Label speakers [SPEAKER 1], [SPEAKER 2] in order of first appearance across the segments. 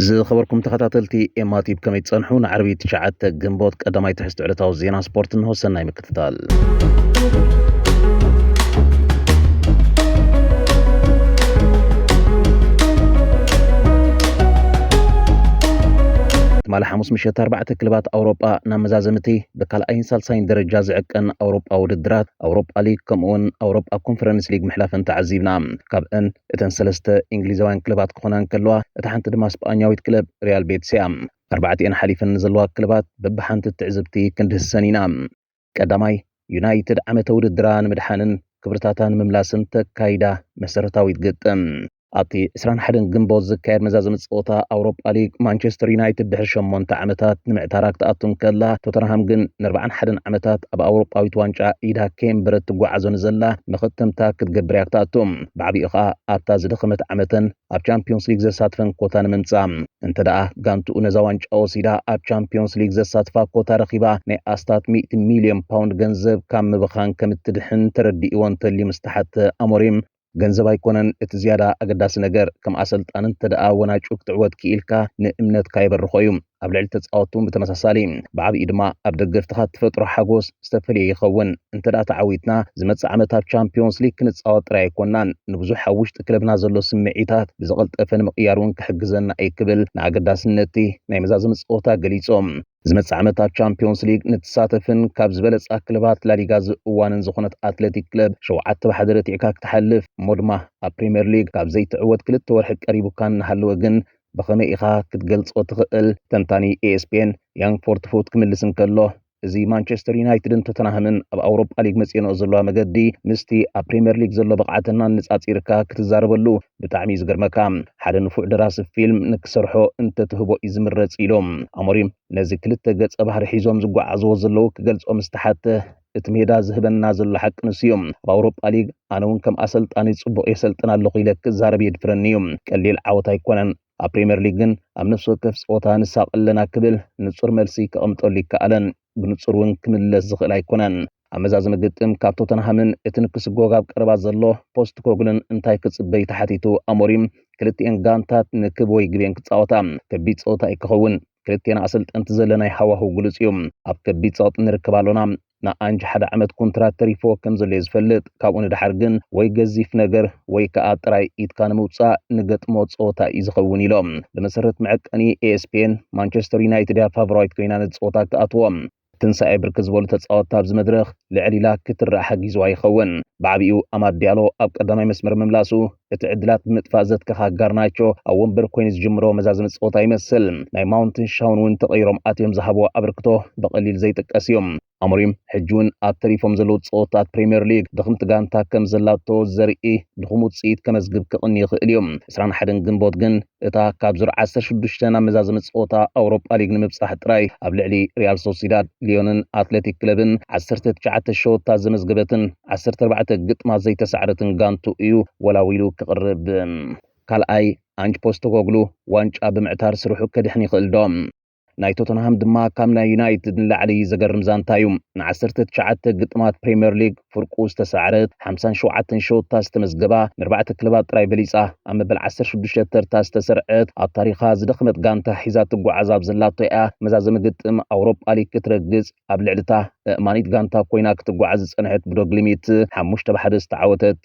[SPEAKER 1] ዝኸበርኩም ተኸታተልቲ ኤማቲብ ከመይ ትጸንሑ ንዓርቢ ትሽዓተ ግንቦት ቀዳማይ ትሕዝቲ ዕለታዊ ዜና ስፖርት እንሆ ሰናይ ምክትታል ትማሊ ሓሙስ ምሸት ኣርባዕተ ክለባት ኣውሮጳ ናብ መዛዘምቲ ብካልኣይን ሳልሳይን ደረጃ ዝዕቀን ኣውሮጳዊ ውድድራት ኣውሮጳ ሊግ ከምኡ'ውን ኣውሮጳ ኮንፈረንስ ሊግ ምሕላፈን ተዓዚብና። ካብእን እተን ሰለስተ እንግሊዛውያን ክለባት ክኾና እንከለዋ እታ ሓንቲ ድማ ስጳኛዊት ክለብ ሪያል ቤትስ እያ። ኣርባዕቲኤን ሓሊፈን ንዘለዋ ክለባት በብሓንቲ ትዕዝብቲ ክንድህሰን ኢና። ቀዳማይ፣ ዩናይትድ ዓመተ ውድድራ ንምድሓንን ክብርታታ ንምምላስን ተካይዳ መሰረታዊት ግጥም። ኣብቲ 21 ግንቦት ዝካየድ መዛዘሚ ፀወታ ኣውሮፓ ሊግ ማንቸስተር ዩናይትድ ድሕሪ ሸሞንተ ዓመታት ንምዕታራ ክትኣቱ እንከላ ቶተንሃም ግን ንኣርባዓን ሓደን ዓመታት ኣብ ኣውሮጳዊት ዋንጫ ኢዳ ከየንበረት ትጓዓዞ ንዘላ መኸተምታ ክትገብር እያ ክትኣቱ ብዓብኡ ከዓ ኣብታ ዝደኸመት ዓመተን ኣብ ቻምፒዮንስ ሊግ ዘሳትፈን ኮታ ንምምፃእ እንተ ደኣ ጋንትኡ ነዛ ዋንጫ ወሲዳ ኣብ ቻምፒዮንስ ሊግ ዘሳትፋ ኮታ ረኺባ ናይ ኣስታት ሚእቲ ሚልዮን ፓውንድ ገንዘብ ካብ ምብኻን ከም እትድሕን ተረዲእዎ እንተልዩ ምስ ተሓተ ኣሞሪም ገንዘብ ኣይኮነን እቲ ዝያዳ ኣገዳሲ ነገር፣ ከም ኣሰልጣኒ እንተደኣ ወናጩ ክትዕወት ክኢልካ ንእምነትካ የበርኾ እዩ። ኣብ ልዕሊ ተጻወትቲ እውን ብተመሳሳሊ፣ ብዓብይኡ ድማ ኣብ ደገፍትኻ እትፈጥሮ ሓጎስ ዝተፈልየ ይኸውን። እንተደኣ ተዓዊትና፣ ዝመጽእ ዓመት ኣብ ቻምፕዮንስ ሊግ ክንጻወት ጥራይ ኣይኮናን፣ ንብዙሕ ኣብ ውሽጢ ክለብና ዘሎ ስምዒታት ብዝቐልጠፈ ንምቕያር እውን ክሕግዘና እዩ ክብል ንኣገዳስነት እቲ ናይ መዛዘሚ ጸወታ ገሊጹ። ዝመጽእ ዓመት ኣብ ቻምፒዮንስ ሊግ ንትሳተፍን ካብ ዝበለጻ ክለባት ላሊጋ ዝእዋንን ዝኾነት ኣትለቲክ ክለብ ሸውዓተ ብሓደ ረቲዕካ ክትሓልፍ እሞ ድማ ኣብ ፕሪምየር ሊግ ካብ ዘይትዕወት ክልተ ወርሒ ቀሪቡካ እናሃለወ ግን ብኸመይ ኢኻ ክትገልጾ ትኽእል? ተንታኒ ኤኤስፒኤን ያን ፎርትፉት ክምልስ እንከሎ እዚ ማንቸስተር ዩናይትድን ቶተንሃምን ኣብ ኣውሮጳ ሊግ መጺኦንኦ ዘለዋ መገዲ ምስቲ ኣብ ፕሪምየር ሊግ ዘሎ ብቕዓተን ኣነጻጺርካ ክትዛረበሉ ብጣዕሚ እዩ ዝገርመካ ሓደ ንፉዕ ደራሲ ፊልም ንክሰርሖ እንተትህቦ እዩ ዝምረጽ ኢሉ ኣሞሪም ነዚ ክልተ ገጸ ባህሪ ሒዞም ዝጓዓዝዎ ዘለዉ ክገልጾ ምስ ተሓተ እቲ ሜዳ ዝህበና ዘሎ ሓቂ ንሱ እዩ ኣብ ኣውሮጳ ሊግ ኣነ እውን ከም ኣሰልጣኒ ጽቡቕ የሰልጥን ኣለኹ ኢለ ክዛረብ የድፍረኒ እዩ ቀሊል ዓወት ኣይኮነን ኣብ ፕሪምየር ሊግ ግን ኣብ ነፍሲ ወከፍ ጸወታ ንሳቐ ኣለና ክብል ንጹር መልሲ ከቐምጠሉ ኣይከኣለን። ብንጹር እውን ክምለስ ዝኽእል ኣይኮነን። ኣብ መዛዘሚ ግጥም ካብ ቶተንሃምን እቲ ንክስጎግ ኣብ ቀረባ ዘሎ ፖስትኮግልን እንታይ ክጽበ እዩ ተሓቲቱ ኣሞሪም፣ ክልቲኤን ጋንታት ንክብ ወይ ግቤን ክጻወታ፣ ከቢድ ጸወታ እዩ ክኸውን። ክልቴና ኣሰልጠንቲ ዘለናይ ሃዋህው ግሉጽ እዩ። ኣብ ከቢድ ጸቕጢ ንርከብ ኣሎና። ንኣንጅ ሓደ ዓመት ኮንትራት ተሪፍዎ ከም ዘሎ እዩ ዝፈልጥ። ካብኡ ንደሓር ግን ወይ ገዚፍ ነገር ወይ ከኣ ጥራይ ኢድካ ንምውጻእ ንገጥሞ ጸወታ እዩ ዝኸውን ኢሎም። ብመሰረት መዐቀኒ ESPN፣ ማንቸስተር ዩናይትድ እያ ፋቮራይት ኮይና ነዚ ጸወታ እትኣትዎ። ትንሳኤ ብርክት ዝበሉ ተጻወትቲ ኣብዚ መድረኽ ልዕል ኢላ ክትረኣ ሓጊዝዋ ይኸውን። ብዓቢኡ ኣማድ ዲያሎ ኣብ ቀዳማይ መስመር ምምላሱ፣ እቲ ዕድላት ብምጥፋእ ዘትከኻ ጋርናቾ ኣብ ወንበር ኮይኑ ዝጅምሮ መዛዘሚ ጸወታ ይመስል። ናይ ማውንትን ሻውን እውን ተቐይሮም ኣትዮም ዝሃብዎ ኣበርክቶ ብቐሊል ዘይጥቀስ እዩ። ኣሞሪም ሕጂ እውን ኣብ ተሪፎም ዘለዉ ፀወታት ፕሪምየር ሊግ ድኽምቲ ጋንታ ከም ዘላቶ ዘርኢ ድኹም ውፅኢት ከመዝግብ ክቕኒ ይኽእል እዩ። ዕስራን ሓደን ግንቦት ግን እታ ካብ ዙር ዓሰርተ ሽዱሽተ ናብ መዛዘሚ ፀወታ ኣውሮጳ ሊግ ንምብፃሕ ጥራይ ኣብ ልዕሊ ሪያል ሶሲዳድ፣ ሊዮንን ኣትሌቲክ ክለብን ዓሰርተ ትሽዓተ ሸወታ ዘመዝገበትን ዓሰርተ ኣርባዕተ ግጥማት ዘይተሳዕረትን ጋንትኡ እዩ ወላዊሉ ክቕርብ። ካልኣይ፣ ኣንጅ ፖስተኮግሉ ዋንጫ ብምዕታር ስርሑ ከድሕን ይኽእል'ዶ? ናይ ቶተንሃም ድማ ካብ ናይ ዩናይትድ ንላዕሊ ዘገርም ዛንታ እዩ። ን19 ግጥማት ፕሪምየር ሊግ ፍርቁ ዝተሳዕረት፣ 57 ሸወታ ዝተመዝገባ፣ ንኣርባዕተ ክለባት ጥራይ በሊጻ ኣብ መበል 16 ተርታ ዝተሰርዐት፣ ኣብ ታሪኻ ዝደኸመት ጋንታ ሒዛ ትጓዓዝ ኣብ ዘላቶ እያ መዛዘሚ ግጥም ኣውሮጳ ሊግ ክትረግጽ። ኣብ ልዕሊ እታ ኣእማኒት ጋንታ ኮይና ክትጓዓዝ ዝጸንሐት ብዶ ግሊሚት ሓሙሽተ ብ ሓደ ዝተዓወተት።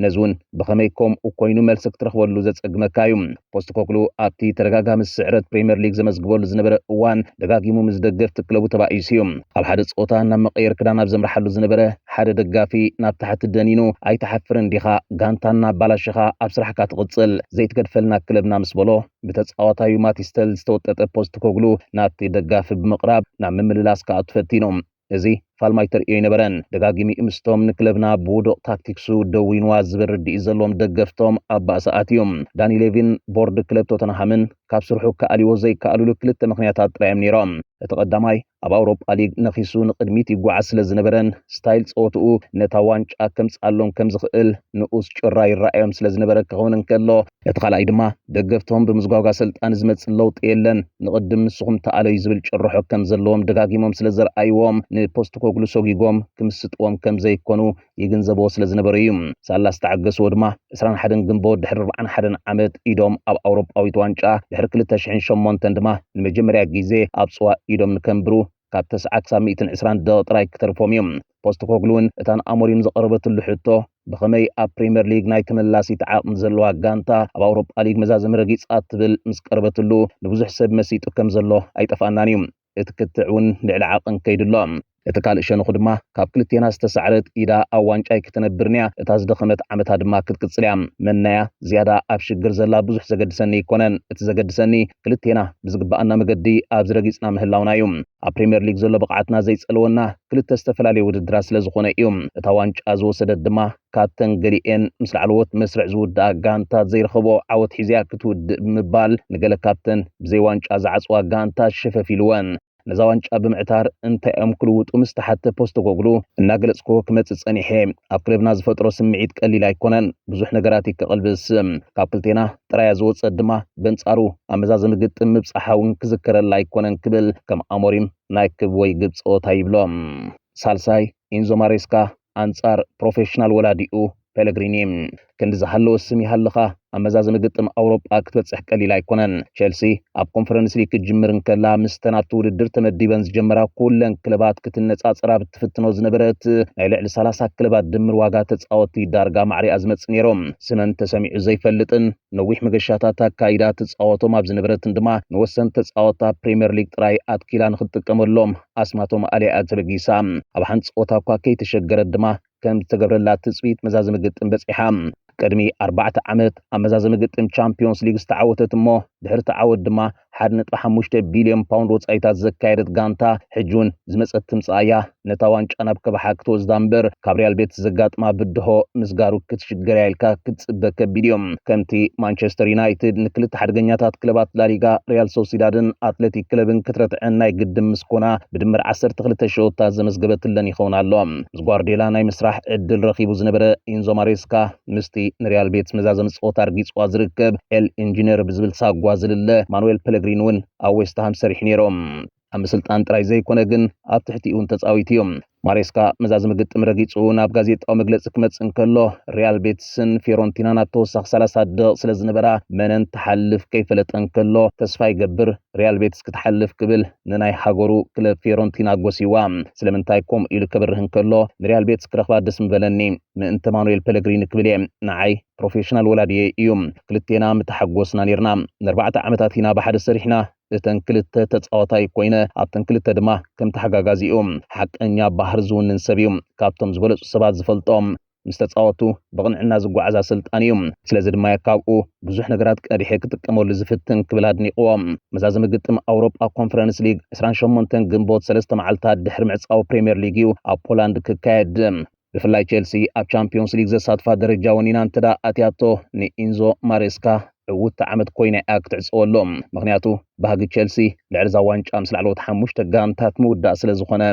[SPEAKER 1] ነዚ እውን ብኸመይ ከምኡ ኮይኑ መልሲ ክትረኽበሉ ዘጸግመካ እዩ። ፖስተኮግሉ ኣብቲ ተደጋጋሚ ስዕረት ፕሪመር ሊግ ዘመዝግበሉ ዝነበረ እዋን ደጋጊሙ ምስ ደገፍቲ ክለቡ ተባኢሱ እዩ። ኣብ ሓደ ጸወታ ናብ መቀየር ክዳን ኣብ ዘምርሓሉ ዝነበረ ሓደ ደጋፊ ናብ ታሕቲ ደኒኑ ኣይትሓፍርን ዲኻ ጋንታና ኣባላሺኻ ኣብ ስራሕካ ትቕጽል ዘይትገድፈልና ክለብና ምስ በሎ ብተጻዋታዩ ማቲስተል ዝተወጠጠ ፖስትኮግሉ ናብቲ ደጋፊ ብምቕራብ ናብ ምምልላስ ክኣቱ ፈቲኑ። እዚ ፋልማይ ተርእዮ ኣይነበረን። ደጋጊሚኡ ምስቶም ንክለብና ብውዱቕ ታክቲክሱ ደዊንዋ ዝብል ርድኢት ዘለዎም ደገፍቶም ኣብ ባእሲ ኣትዩ። ዳኒ ሌቪን ቦርድ ክለብ ቶተንሃምን ካብ ስርሑ ክኣልይዎ ዘይከኣሉሉ ክልተ ምኽንያታት ጥራይ'ዮም ነይሮም። እቲ ቀዳማይ፣ ኣብ ኣውሮጳ ሊግ ነኺሱ ንቕድሚት ይጓዓዝ ስለ ዝነበረን ስታይል ጸወትኡ ነታ ዋንጫ ከምጽኣሎም ከም ዝኽእል ንኡስ ጭራ ይረኣዮም ስለ ዝነበረ ክኸውን እንከሎ፣ እቲ ካልኣይ ድማ ደገፍቶም ብምዝጓግ ኣሰልጣኒ ዝመጽእ ለውጢ የለን ንቕድም ንስኹም ተኣለዩ ዝብል ጭርሖ ከም ዘለዎም ደጋጊሞም ስለ ዘርኣይዎም ንፖስተኮግሉ ሰጒጎም ክምስጥዎም ከም ዘይኮኑ ይግንዘብዎ ስለ ዝነበሩ እዩ። ሳላ ዝተዓገስዎ ድማ ዕስራን ሓደን ግንቦት ድሕሪ ኣርብዓን ሓደን ዓመት ኢዶም ኣብ ኣውሮጳዊት ዋንጫ ድሕሪ ክልተ ሽሕን ሸሞንተን ድማ ንመጀመርያ ግዜ ኣብ ጽዋ ኢዶም ንከንብሩ ካብ ተስዓ ክሳብ ሚእትን ዕስራን ደቒቕ ጥራይ ክተርፎም እዩ። ፖስተኮግሉ'ውን እታ ንኣሞሪም ዝቐረበትሉ ሕቶ ብኸመይ ኣብ ፕሪመር ሊግ ናይ ተመላሲት ዓቕሚ ዘለዋ ጋንታ ኣብ ኣውሮጳ ሊግ መዛዘሚ ረጊጻ ትብል ምስ ቀረበትሉ ንብዙሕ ሰብ መሲጡ ከም ዘሎ ኣይጠፍኣናን እዩ። እቲ ክትዕ እውን ልዕሊ ዓቕን ከይዱ ኣሎ። እቲ ካልእ ሸንኹ ድማ ካብ ክልቴና ዝተሳዕረት ኢዳ ኣብ ዋንጫይ ክተነብርን እያ፣ እታ ዝደኸመት ዓመታ ድማ ክትቅጽል እያ። መናያ ዝያዳ ኣብ ሽግር ዘላ ብዙሕ ዘገድሰኒ ኣይኮነን፣ እቲ ዘገድሰኒ ክልቴና ብዝግበኣና መገዲ ኣብዚ ረጊጽና ምህላውና እዩ። ኣብ ፕሪምየር ሊግ ዘሎ ብቕዓትና ዘይጸልወና ክልተ ዝተፈላለዩ ውድድራት ስለዝኾነ እዩ። እታ ዋንጫ ዝወሰደት ድማ ካብተን ገሊኤን ምስ ላዕለዎት መስርዕ ዝውድኣ ጋንታ ዘይረኸብኦ ዓወት ሒዘያ ክትውድእ ብምባል ንገለ ካብተን ብዘይ ዋንጫ ዝዓጽዋ ጋንታ ሸፈፍ ኢልወን ነዛ ዋንጫ ብምዕታር እንታይ'ዮም ክልውጡ ምስ ተሓተ ፖስተኮግሉ እናገለጽክዎ ክመጽእ ጸኒሐ። ኣብ ክለብና ዝፈጥሮ ስምዒት ቀሊል ኣይኮነን፣ ብዙሕ ነገራት'ዩ ከቕልብስ። ካብ ክልቴና ጥራያ ዝወጸት ድማ በንጻሩ ኣብ መዛዘሚ ግጥም ምብጻሓ'ውን ክዝከረላ ኣይኮነን ክብል ከም ኣሞሪም ናይ ክብ ወይ ግብ ጸወታ ይብሎ። ሳልሳይ፣ ኢንዞ ማሬስካ ኣንጻር ፕሮፌሽናል ወላዲኡ ፔለግሪኒ ክንዲ ዝሃለወ ስም ይሃልኻ ኣብ መዛዘሚ ግጥም ኣውሮጳ ክትበጽሕ ቀሊል ኣይኮነን። ቸልሲ ኣብ ኮንፈረንስ ሊግ ክትጅምር እንከላ ምስተን ኣብቲ ውድድር ተመዲበን ዝጀመራ ኩለን ክለባት ክትነጻጸር ኣብ እትፍትኖ ዝነበረት ናይ ልዕሊ 30 ክለባት ድምር ዋጋ ተጻወቲ ዳርጋ ማዕሪኣ ዝመጽእ ነይሮም። ስመን ተሰሚዑ ዘይፈልጥን ነዊሕ መገሻታት ኣካይዳ ትጻወቶም ኣብ ዝነበረትን ድማ ንወሰን ተጻወታ ፕሪምየር ሊግ ጥራይ ኣትኪላ ንክትጥቀመሎም ኣስማቶም ኣልያ'ያ ተበጊሳ። ኣብ ሓንጸወታ'ኳ ከይተሸገረት ድማ ከም ዝተገብረላ ትጽቢት መዛዘሚ ግጥም በጺሓ። ቅድሚ ኣርባዕተ ዓመት ኣብ መዛዘሚ ግጥም ቻምፕዮንስ ሊግ ዝተዓወተት እሞ ድሕሪ'ቲ ዓወት ድማ ሓደ ነጥቢ ሓሙሽተ ቢልዮን ፓውንድ ወጻኢታት ዘካየደት ጋንታ ሕጂ'ውን ዝመጸት ትምጻእ'ያ ነታ ዋንጫ ናብ ከብሓ ክትወስዳ'ምበር ካብ ሪያል ቤትስ ዘጋጥማ ብድሆ ምስጋሩ ክትሽገር'ያ ኢልካ ክትጽበ ከቢድ'ዩ። ከምቲ ማንቸስተር ዩናይትድ ንክልተ ሓደገኛታት ክለባት ላሊጋ ሪያል ሶሲዳድን ኣትሌቲክ ክለብን ክትረትዐን ናይ ግድም ምስ ኮና ብድምር 12 ሸወታት ዘመዝገበትለን ይኸውን ኣሎ። ምስ ጓርዴላ ናይ ምስራሕ ዕድል ረኺቡ ዝነበረ ኢንዞ ማሬስካ ምስቲ ንሪያል ቤትስ መዛዘሚ ፀወታ ኣርጊፅዋ ዝርከብ ኤል ኢንጂነር ብዝብል ሳጓ ዝልለ ማኑዌል ፐለግሪን እውን ኣብ ዌስትሃም ሰሪሑ ነይሩ። ኣብ ምስልጣን ጥራይ ዘይኮነ ግን ኣብ ትሕቲኡ እውን ተጻዊቱ እዩ። ማሬስካ መዛዝሚ ግጥም ረጊጹ ናብ ጋዜጣዊ መግለጺ ክመጽእ እንከሎ፣ ሪያል ቤትስን ፊዮረንቲናን ኣብ ተወሳኺ ሰላሳ ደቒቕ ስለ ዝነበራ መነን ትሓልፍ ከይፈለጠ እንከሎ፣ ተስፋ ይገብር ሪያል ቤትስ ክትሓልፍ ክብል ንናይ ሃገሩ ክለብ ፊዮረንቲና ጎስይዋ። ስለምንታይ ከምኡ ኢሉ ከብርህ እንከሎ፣ ንሪያል ቤትስ ክረኽባ ደስ ምበለኒ ምእንተ ማኑኤል ፐለግሪኒ ክብል እየ። ንዓይ ፕሮፌሽናል ወላዲየይ እዩ። ክልቴና ምተሓጎስና ኔርና። ንኣርባዕተ ዓመታት ኢና ብሓደ ሰሪሕና፣ እተን ክልተ ተጻዋታይ ኮይነ ኣብተን ክልተ ድማ ከም ተሓጋጋዚ እዩ። ሓቀኛ ባህር ዝውንን ሰብ እዩ። ካብቶም ዝበለጹ ሰባት ዝፈልጦ ምስ ተጻወቱ ብቕንዕና ዝጓዓዝ ኣሰልጣኒ እዩ። ስለዚ ድማ እየ ካብኡ ብዙሕ ነገራት ቀዲሐ ክጥቀመሉ ዝፍትን ክብል ኣድኒቕዎ። መዛዘሚ ግጥም ኣውሮጳ ኮንፈረንስ ሊግ ዕስራን ሸሞንተን ግንቦት ሰለስተ መዓልታት ድሕሪ ምዕጻው ፕሪምየር ሊግ እዩ ኣብ ፖላንድ ክካየድ። ብፍላይ ቼልሲ ኣብ ቻምፒዮንስ ሊግ ዘሳትፋ ደረጃ ወኒና እንተ ኣትያቶ ንኢንዞ ማሬስካ ዕውቲ ዓመት ኮይና እያ ክትዕፀወሉ። ምክንያቱ ባህጊ ቼልሲ ልዕሊ እዛ ዋንጫ ምስ ላዕለዎት ሓሙሽተ ጋንታት ምውዳእ ስለ ዝኾነ።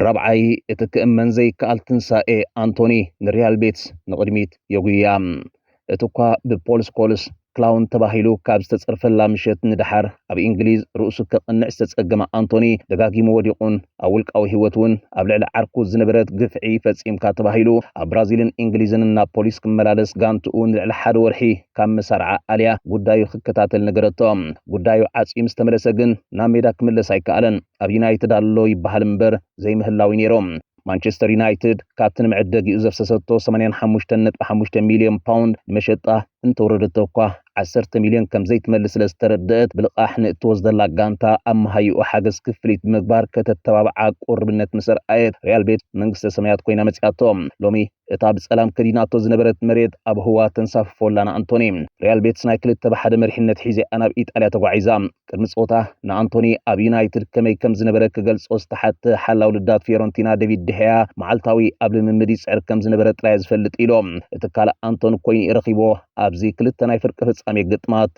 [SPEAKER 1] ራብዓይ፣ እቲ ክእመን ዘይከኣል ትንሳኤ ኣንቶኒ ንሪያል ቤትስ ንቕድሚት የጉይያ። እቲ እኳ ብፖል ስኮልስ ክላውን ተባሂሉ ካብ ዝተጸርፈላ ምሸት ንደሓር ኣብ እንግሊዝ ርእሱ ከቕንዕ ዝተጸገመ ኣንቶኒ ደጋጊሙ ወዲቑን ኣብ ውልቃዊ ህይወት እውን ኣብ ልዕሊ ዓርኩ ዝነበረት ግፍዒ ፈጺምካ ተባሂሉ ኣብ ብራዚልን እንግሊዝን ናብ ፖሊስ ክመላለስ ጋንትኡ ንልዕሊ ሓደ ወርሒ ካብ መሳርዓ ኣልያ ጉዳዩ ክከታተል ነገረቶ። ጉዳዩ ዓጽዩ ምስ ተመለሰ ግን ናብ ሜዳ ክምለስ ኣይከኣለን። ኣብ ዩናይትድ ኣሎ ይበሃል እምበር ዘይምህላው እዩ ነይሩ። ማንቸስተር ዩናይትድ ካብቲ ንመዐደጊኡ ዘፍሰሰቶ ሰማንያን ሓሙሽተን ነጥቢ ሓሙሽተ ሚልዮን ፓውንድ ንመሸጣ እንተወረደቶ እኳ ዓሰርተ ሚልዮን ከም ዘይትመልስ ስለ ዝተረደአት ብልቓሕ ንእትወስደላ ጋንታ ኣብ መሃይኡ ሓገዝ ክፍሊት ብምግባር ከተተባብዓ ቁርብነት ምስ ኣርኣየት ሪያል ቤት መንግስተ ሰማያት ኮይና መጺኣቶ። ሎሚ እታ ብጸላም ከዲናቶ ዝነበረት መሬት ኣብ ህዋ ተንሳፍፎ ኣላ ንኣንቶኒ። ሪያል ቤትስ ናይ ክልተ ብሓደ መሪሕነት ሒዜኣ ናብ ኢጣልያ ተጓዒዛ። ቅድሚ ጸወታ ንኣንቶኒ ኣብ ዩናይትድ ከመይ ከም ዝነበረ ክገልጾ ዝተሓተ ሓላው ልዳት ፊዮረንቲና ደቪድ ድሕያ መዓልታዊ ኣብ ልምምድ ይጽዕር ከም ዝነበረ ጥራይ ዝፈልጥ ኢሎ እቲ ካልእ ኣንቶኒ ኮይኑ እዩ ረኺቦ ኣብዚ ክልተ ናይ ፍርቂ ፍጻሜ ግጥማት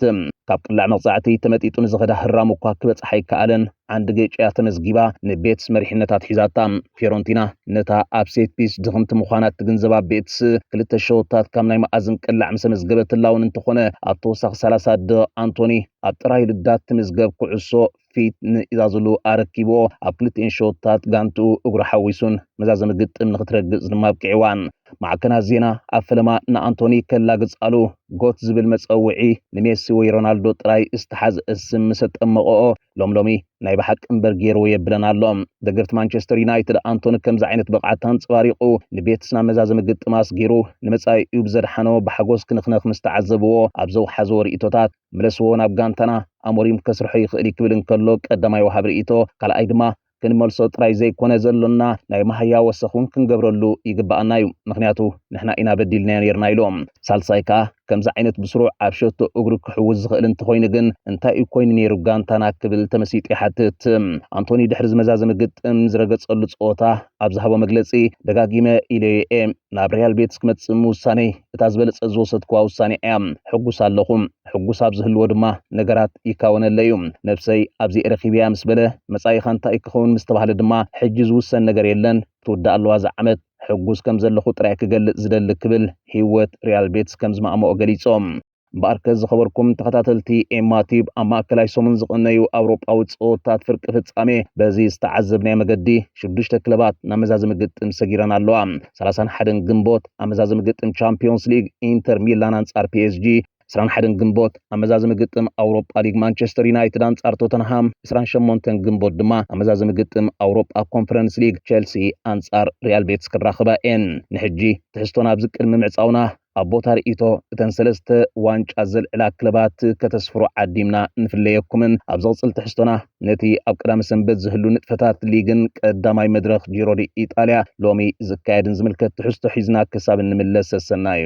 [SPEAKER 1] ካብ ቅላዕ መቕጻዕቲ ተመጢጡ ንዝኸዳ ህራም እኳ ክበጽሓ ኣይከኣለን ዓንዲ ጌጭ እያ ተመዝጊባ ንቤትስ መሪሕነታት ሒዛታ ፊዮረንቲና ነታ ኣብ ሴት ፒስ ድኽምቲ ምዃና እትግንዘባ ቤትስ ክልተ ሸወታት ካብ ናይ መኣዝን ቅላዕ ምስ ኣመዝገበትላ እውን እንተኾነ ኣብ ተወሳኺ 30 ደቕ ኣንቶኒ ኣብ ጥራይ ልዳት ትምዝገብ ኩዕሶ ፊት ንኢዛዝሉ ኣረኪብዎ ኣብ ክልቲኤን ሸወታት ጋንትኡ እግሩ ሓዊሱን መዛዘሚ ግጥም ንክትረግጽ ድማ ኣብቂዕዋን። ማዕከናት ዜና ኣብ ፈለማ ንኣንቶኒ ከላግጻሉ ጎት ዝብል መጸውዒ ንሜሲ ወይ ሮናልዶ ጥራይ ዝተሓዝአ ስም ምስ ኣጠመቐኦ ሎም ሎሚ ናይ ብሓቂ እምበር ገይርዎ የብለን ኣሎ። ደገፍቲ ማንቸስተር ዩናይትድ ኣንቶኒ ከምዚ ዓይነት ብቕዓት ኣንጸባሪቑ ንቤትስና መዛዘሚ ግጥም ኣስጊሩ ንመጻኢኡ ብዘድሓኖ ብሓጎስ ክንኽነኽ ምስ ተዓዘብዎ ኣብ ዘውሓዝዎ ርእይቶታት ምለስዎ ናብ ጋንታና ኣሞሪም ከስርሖ ይኽእል'ዩ ክብል እንከሎ ቀዳማይ ወሃቢ ርእይቶ ካልኣይ ድማ ክንመልሶ ጥራይ ዘይኮነ ዘሎና ናይ ማሃያ ወሰኽ እውን ክንገብረሉ ይግባኣና እዩ ምክንያቱ ንሕና ኢና በዲልናዮ ነርና ኢሎም። ሳልሳይ ከኣ ከምዚ ዓይነት ብስሩዕ ኣብ ሸቶ እግሩ ክሕውስ ዝኽእል እንተኾይኑ ግን እንታይ እዩ ኮይኑ ነይሩ ጋንታና ክብል ተመሲጡ ይሓትት። ኣንቶኒ ድሕሪ ዝመዛዘሚ ግጥም ዝረገጸሉ ጸወታ ኣብ ዝሃቦ መግለጺ ደጋጊመ ኢለዮ እየ ናብ ሪያል ቤትስ ክመጽእ ምውሳነይ እታ ዝበለጸት ዝወሰድክዋ ውሳኔ እያ። ሕጉስ ኣለኹ። ሕጉስ ኣብ ዝህልዎ ድማ ነገራት ይካወነለ እዩ። ነብሰይ ኣብዚኤ ረኺበያ ምስ በለ፣ መጻኢኻ እንታይ እዩ ክኸውን ምስ ተባህለ ድማ፣ ሕጂ ዝውሰን ነገር የለን፣ ክትውዳእ ኣለዋ እዛ ዓመት፣ ሕጉስ ከም ዘለኹ ጥራይ ክገልጽ ዝደሊ ክብል ህይወት ሪያል ቤትስ ከም ዝማእመኦ ገሊጾ። እምበኣርከስ ዝኸበርኩም ተኸታተልቲ ኤማ ቲዩብ ኣብ ማእከላይ ሰሙን ዝቕነዩ ኣውሮጳዊ ጸወታት ፍርቂ ፍጻሜ በዚ ዝተዓዘብናዮ መገዲ ሽዱሽተ ክለባት ናብ መዛዘሚ ግጥም ሰጊረን ኣለዋ። ሰላሳን ሓደን ግንቦት ኣመዛዝሚ ግጥም ቻምፒዮንስ ሊግ ኢንተር ሚላን ኣንጻር ፒኤስጂ፣ ዕስራን ሓደን ግንቦት ኣመዛዝሚ ግጥም ኣውሮጳ ሊግ ማንቸስተር ዩናይትድ ኣንጻር ቶተንሃም፣ ዕስራን ሸሞንተን ግንቦት ድማ ኣመዛዝሚ ግጥም ኣውሮጳ ኮንፈረንስ ሊግ ቼልሲ ኣንጻር ሪያል ቤትስ ክራኸባ እየን። ንሕጂ ትሕዝቶና ኣብዚ ቅድሚ ምዕጻውና ኣብ ቦታ ርእይቶ እተን ሰለስተ ዋንጫ ዘልዕላ ክለባት ከተስፍሩ ዓዲምና ንፍለየኩምን ኣብ ዝቕጽል ትሕዝቶና ነቲ ኣብ ቀዳመ ሰንበት ዝህሉ ንጥፈታት ሊግን ቀዳማይ መድረኽ ጂሮዲ ኢጣልያ ሎሚ ዝካየድን ዝምልከት ትሕዝቶ ሒዝና ክሳብ እንምለስ ሰሰናዩ።